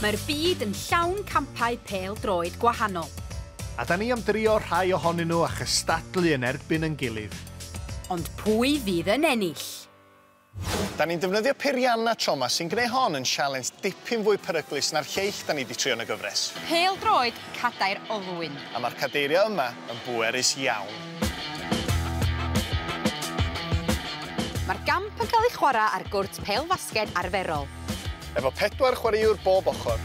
Mae'r byd yn llawn campau pêl-droed gwahanol. A 'da ni am drio rhai ohonyn nhw a chystadlu yn erbyn yn gilydd. Ond pwy fydd yn ennill? Da ni'n defnyddio peiriannau tro 'ma sy'n gwneu hon yn sialens dipyn fwy peryglus na'r lleill da ni 'di trio yn y gyfres. Pêl-droed cadair olwyn. A mae'r cadeiriau yma yn bwerus iawn. Mae'r gamp yn cael ei chwarae ar gwrt pêl-fasged arferol. efo pedwar chwaraewr bob ochr.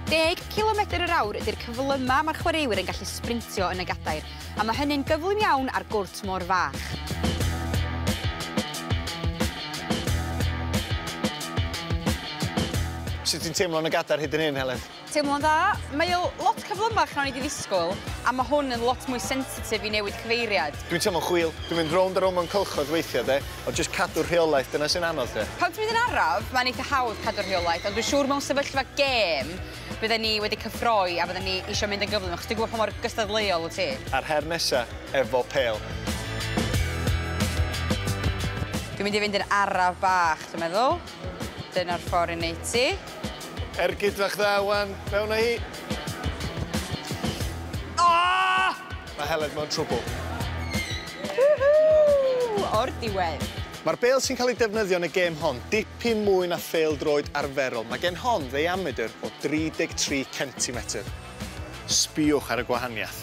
Deg cilomedr yr awr ydy'r cyflymaf mae'r chwaraewyr yn gallu sbrintio yn y gadair, a mae hynny'n gyflym iawn ar gwrt mor fach. Sut ti'n teimlo yn y gadair hyd yn hyn, Heledd? Teimlo'n dda. Mae o lot cyflymach na o'n i 'di ddisgwyl, a ma' hwn yn lot mwy sensitif i newid cyfeiriad. Dwi'n teimlo'n chwil. Dwi'n mynd rownd a rownd mewn cylchoedd weithiau, de, ond jyst cadw rheolaeth, dyna sy'n anodd, de. Pan ti'n mynd yn araf, mae'n eitha hawdd cadw rheolaeth, ond dwi'n siŵr mewn sefyllfa gêm, bydden ni wedi cyffroi a bydden ni isio mynd yn gyflym, achos dwi'n gwybod pa mor gystadleuol wyt ti. A'r her nesa, efo pêl. Dwi'n mynd i fynd yn araf bach, dwi'n meddwl. Dyna'r ffordd i wneud ti. Ergyd fach dda wan, mewn a hi. Aah! Mae Helen mewn trwbl. Woohoo! O'r diwedd. Mae'r bêl sy'n cael ei defnyddio yn y gêm hon dipyn mwy na phêl-droed arferol. Mae gen hon ddeiamedr o 33 centimetr. Sbïwch ar y gwahaniaeth.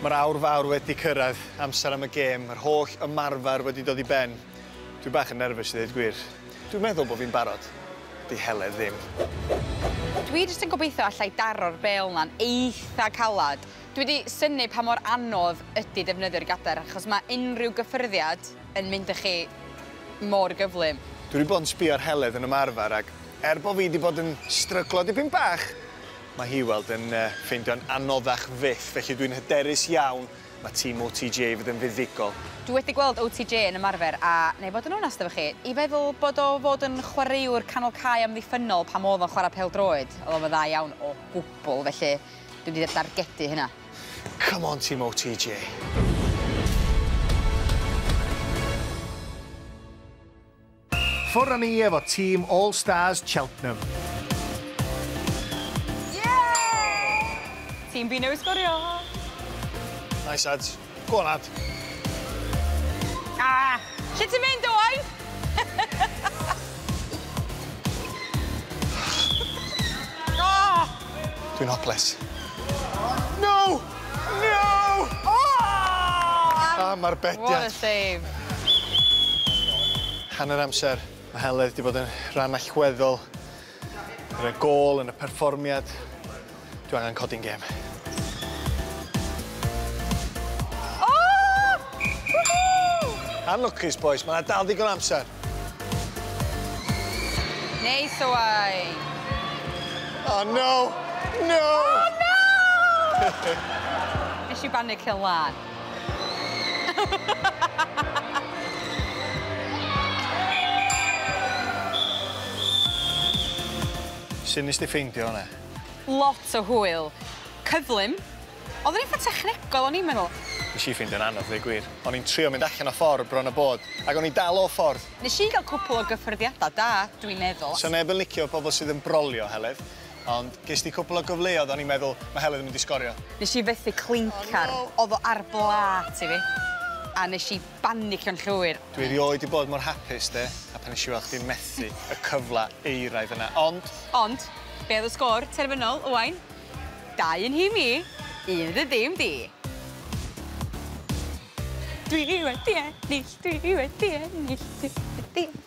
Mae'r awr fawr wedi cyrraedd, amser am y gêm, yr holl ymarfer wedi dod i ben. Dwi bach yn nerfus i ddeud gwir. Dwi'n meddwl bod fi'n barod. 'Di Heledd ddim. Dwi jyst yn gobeithio allai daro'r bêl 'na'n eitha' calad. Dwi 'di synnu pa mor anodd ydi defnyddio'r gadair achos mae unrhyw gyffyrddiad yn mynd â chi mor gyflym. Dwi 'di bod yn sbio ar Heledd yn ymarfer ac er bo' fi 'di bod yn stryglo dipyn bach, mae hi, wel, yn ffeindio'n anoddach fyth, felly dwi'n hyderus iawn mae tîm OTJ i fod yn fuddugol. Dwi wedi gweld OTJ yn ymarfer a, na i fod yn onast efo chi, i feddwl bod o fod yn chwaraewr canol cae amddiffynnol pan o'dd o'n chwarae pêl-droed, o'dd o'm yn dda iawn o gwbwl, felly, Dwi wedi dy dargedu hynna. Come on ti MOTJ. Ffwr a ni efo tîm All Stars Cheltenham. Ie! Tîm B newydd sgorio! Nice lads. Go on, lad. Ah! Lle ti'n mynd, Owain? oh! Dwi'n hoples. No! No! Oh! Am ar bediad. What a save. Hanner amser, mae Heledd wedi bod yn rhan allweddol Gyda gôl yn y perfformiad, dwi angen codi'n gêm. Unlwcus, bois. Mae yna dal ddigon amser. Neis o wai. Oh, no! No! Oh, no! Nes i bannu cyn lan. Su' nes di ffeindio hwnna? Lot o hwyl. Cyflym. O'dd o'n eitha technegol o'n i'n meddwl. Nes i ffeindio'n anodd ddeu gwir. O'n i'n trio mynd allan o ffordd bron a bod, ac o'n i'n dal off ffordd. Nes i ga'l cwpwl o gyffyrddiada da, dwi'n meddwl. Sa neb yn licio pobol sydd yn brolio, Heledd. Ond ges di cwpl o gyfleodd o'n i'n meddwl ma Helen yn mynd i sgorio. Nes i fethu clincar. O'dd o ar blât i fi. A nes i banicio'n llwyr. Dwi erioed di bod mor hapus de, a pan nes i weld chdi'n methu y cyfla euraidd yna, ond. Ond, be o'dd y sgôr terfynol, Owain? Dau yn nhîm i, un yn dy dim di. Dwi wedi ennill, dwi wedi ennill, dwi wedi ennill.